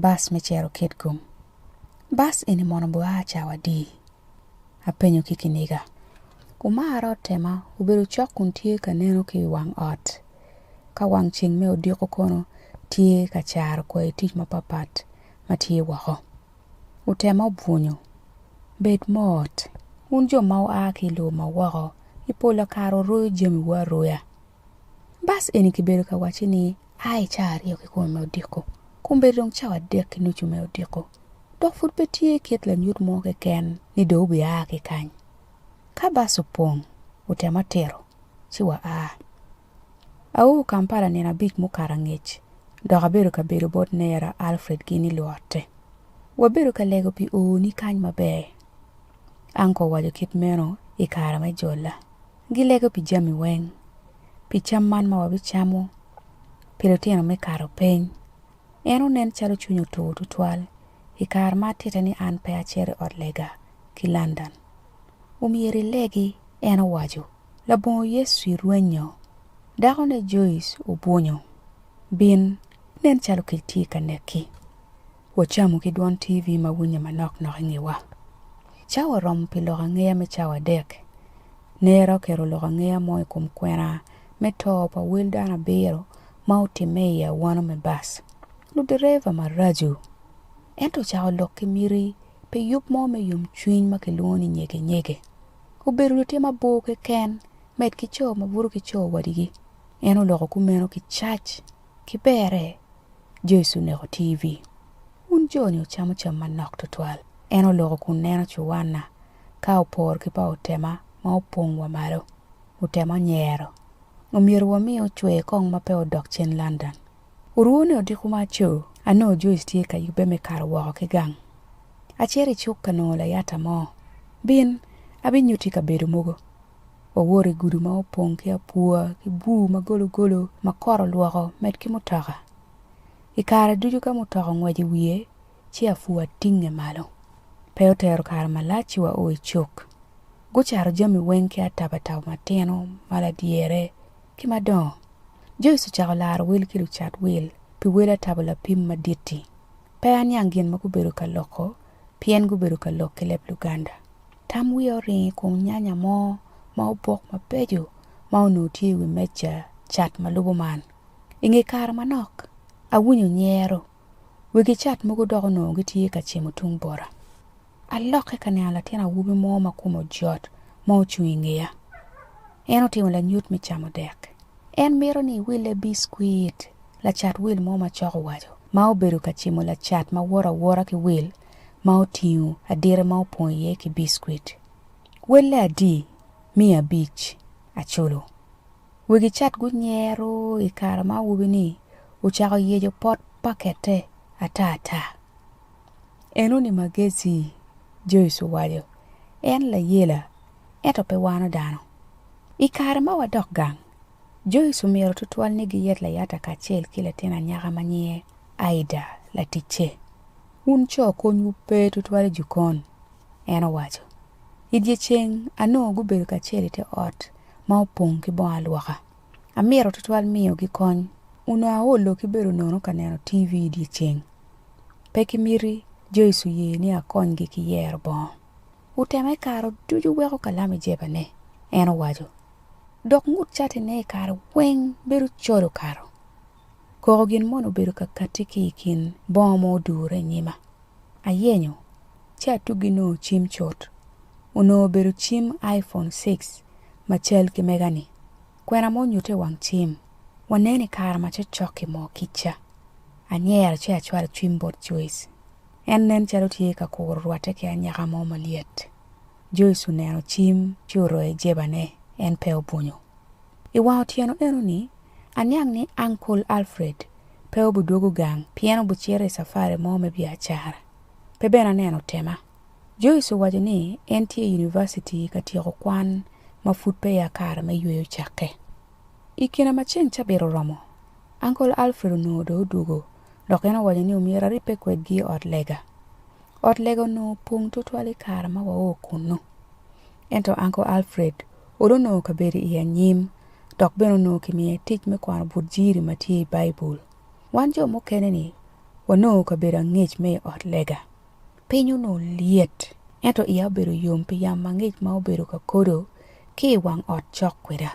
Bus me cito Kitgum. Bus eni mono bua cawa adi? Apenyo ki kiniga. Umarra otema obedo cok kun tye ka neno ki i wang ot. Ka wang ceng me odiko kono tye ka caro kwayi tic mapatpat ma tye woko. Otema obwunyo. Bed mot. Wun jo ma wua ki i lobo ma woko, i polo kare wuroyo jamiwu aroya. Bas eni kibedo ka wacci ni a i cawa aryo ki kome me odiko, kun bedo dong cawa adek ki nucu me odiko, dok pud pe tye kit lanyut mo keken ni dong wubia ki kany. Ka bas opong, wutema tito, ci waa. Aour Kampala nino abic mukato angec, dok abedo ka bedo bot nera Alfred ki ni luotte. Wabedo ka lego pi oo ni kany maber. Uncle owaco kit meno i kare me jolla. Gilego pi jami weng, pi cam man ma wabicamo, pi litino me kato peny. En onen calo cwinye otur tutwal i kare ma atitte ni an pe acito i ot lega ki London. Omyero ilegi, en owaco. Labongo Yecu i rwenyo, dakone Joyce obwunyo. Bin, nen calo kec tye ka neki. Wacamo ki dwon TV ma winye manok nok i ngewa. Cawa oromo pi loko angeya me cawa adek. Nera oketo loko angeya mo i kom kwena me to pa wel dano abiro ma otimme i awano me bas. Ludereva maraco. Ento ocako lok ki miti pi yub mo me yomcwiny ma kilwongo ni nyege nyege. Obedo lutim abor keken, med ki co ma buto ki co wadigi. En oloko kumeno ki cac. Ki berre, Joyce oneko TV. Wun jo-ni wucamo cam manok twatwal. En oloko kun neno cuwanna ka opor ki pa otema ma opong wa malo. Otema onyero. Omyero wami ocwer kong ma pe odok cen London. Orwone odiko ma aco. Anongo Joyce tye ka yubbe me kato woko ki gang. Acito i cuk ka nongo layata mo. Bin, abinyutti kabedo mogo. Wawoto i gudu ma opong ki apwa ki bur ma gologolo ma kot olwoko med ki mutoka. I kare ducu ka mutoka ongweco i wiye ci apwa tinge malo. Pe otero kare malac ci wao i cuk. Gucato jami weng ki atabataba matino, ma ladyere, ki madongo. Joyce ocako laro wel ki lucat wil pi wel atabo lapim madit-ti. Pe aniang gin ma gubedo ka loko pien gubedo ka lok ki leb Luganda. Tam wiya oringo i kom nyanya mo ma obok mabeco ma onongo tye i wi meja cat ma lubo man. I nge kare manok, awinyo nyero. Wegi cat mogo dok onongo gitye ka cimo tung bota. Alokke ka neno latin awobi mo ma kome ojot ma ocung i ngeya. En otimo lanyut me camo dek. En mito ni iwille biskuit, lacat wil mo macok owaco, ma obedo ka cimo lacat ma woto awota ki wil ma otingo adita ma opong iye ki biskwit, welle adi miya abic aculo. Wegi cat gunyero i kare ma awobi-ni ocako yeco pot pakette ata ata. Enoni magezi, Joyce owaco. En layela, ento pe wano dano. I kare ma wadok gang, Joyce omiro tutwal ni giyet layata kacel ki latin anyaka ma nyinge Aida, laticce. Wun co konywu pe tutwal i jokon, en owaco. I dyeceng anongo gubedo kacel i te ot ma opong ki bongo alwoka. Amito tutwal miyogi kony. Onongo aolo ki bedo nono ka neno TV i dyeceng. Pe kimiti Joyce oye ni akonygi ki yero bongo. Wutema i kare ducu wek okalam i jebane, en owaco, dok ngut catine i kare weng bedo col okato. Koko gin mono obedo ka katti ki i kin bongo ma odure i nyima. Ayenyo, ci atuggi nongo cim cut. Onongo obedo cim iPhone six ma cal ki mega-ni. Kwena ma onyutte i wang cim, Waneno i kare ma cokcok i moo kic ca. Anyero ci acwalo cwim bot Joyce. En nen calo tye ka kuro rwatte ki anyaka mo malyet. Joish oneno cim ci oroyo jebane, en pe obwunyo. I wang otyeno eno-ni, aniang ni Ankol Alfred pe obidwogo gang pien obicito i cafari mo me biacara. Pe bene aneno tema. Joish owaco ni en tye i univaciti ka tyeko kwan ma pud peya kare me yweyo cakke. I kine ma ceng cabit oromo, Ankol Alfred onongo dong odwogo dok en owaco ni omyero aribbe kwedgi i ot lega. Ot lega onongo opong twatwal i kare ma wao kunnu. Ento Anko Alfred olo onongo kabedo i anyim dok bene onongo kimiye tic me kwano but jiri ma tye i Baibul. Wan jo mukene-ni wanongo kabedo angec me i ot lega. Piny onongo lyet, ento iya obedo yom pi yamo angec ma obedo ka kodo ki i wang ot cok kweda.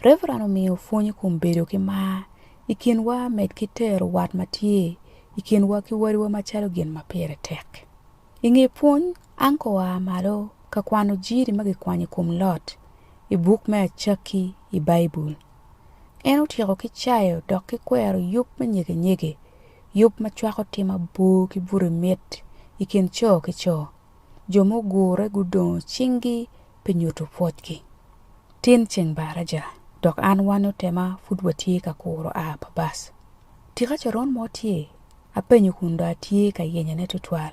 Reverend omiyo pwony i kom bedo ki mar i kinwa med ki tero wat ma tye i kinwa ki wadiwa macalo gin ma pire tek. I nge pwony, Anka oa malo ka kwano jiri ma kikwanyo i kom Lot i buk me Acakki i Baibul. En otyeko ki cayo dok ki kwero yub me nyeganyege, yub ma cwako tim abor ki buto i mit i kin co ki co. jo mugure gudongo cinggi pi nyuto pwocgi. Tin ceng baraja, dok an wan otema pud watye ka kuro a pa bas. Tika coron mo tye? apenyo kun dong atye ka yenyone tutwal.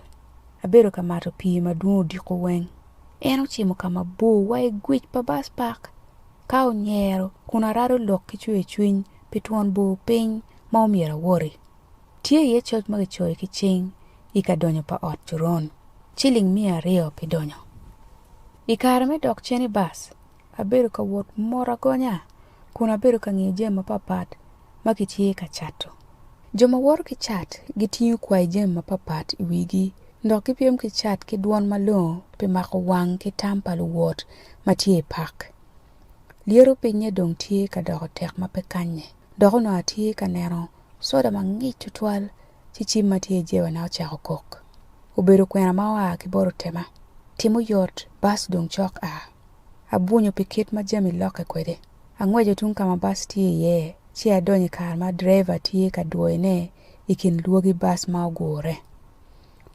Abedo ka mato pii ma dwong odiko weng. En ocimo ka mabor wa i gwic pa bas park. Ka onyero kun arado lok ki cwer cwiny pi twon bor piny ma omyero awoti. Tye iye coc ma kicoyo ki cing i ka donyo pa ot coron, ciling miya aryo pi donyo. I kare me dok cen i bas, abedo ka wot mot agonya kun abedo ka ngiyo jami mapatpat ma kitye ka cato. Jo ma woto ki cat gitingo kwayi jami mapatpat i wigi dok gipyem ki cat ki dwon malongo pi mako wang ki tam pa luwot ma tye i pak. Lyeto pinye dong tye ka doko tek ma pe kanye, dok onongo atye ka neno Soda mangic tutwal ci cim ma tye i jebana ocako kok. Obedo kwena ma oa ki bot otema. Tim oyot, bas dong cok a. Abwunyo pi kit ma jami lokke kwede. Angweco tung ka ma bas tye iye ci adonyo i kar ma direva tye ka dwoyone i kin lwagi bas ma ogure.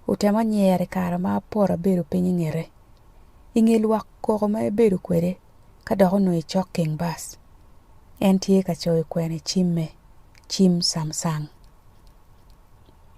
Otema onyere i kare ma apoto abedo piny i ngete. I nge lwak koko ma ebedo kwede, Ka dok onongo i cok king bus, en tye ka coyo kwene cimme, cim Samsung.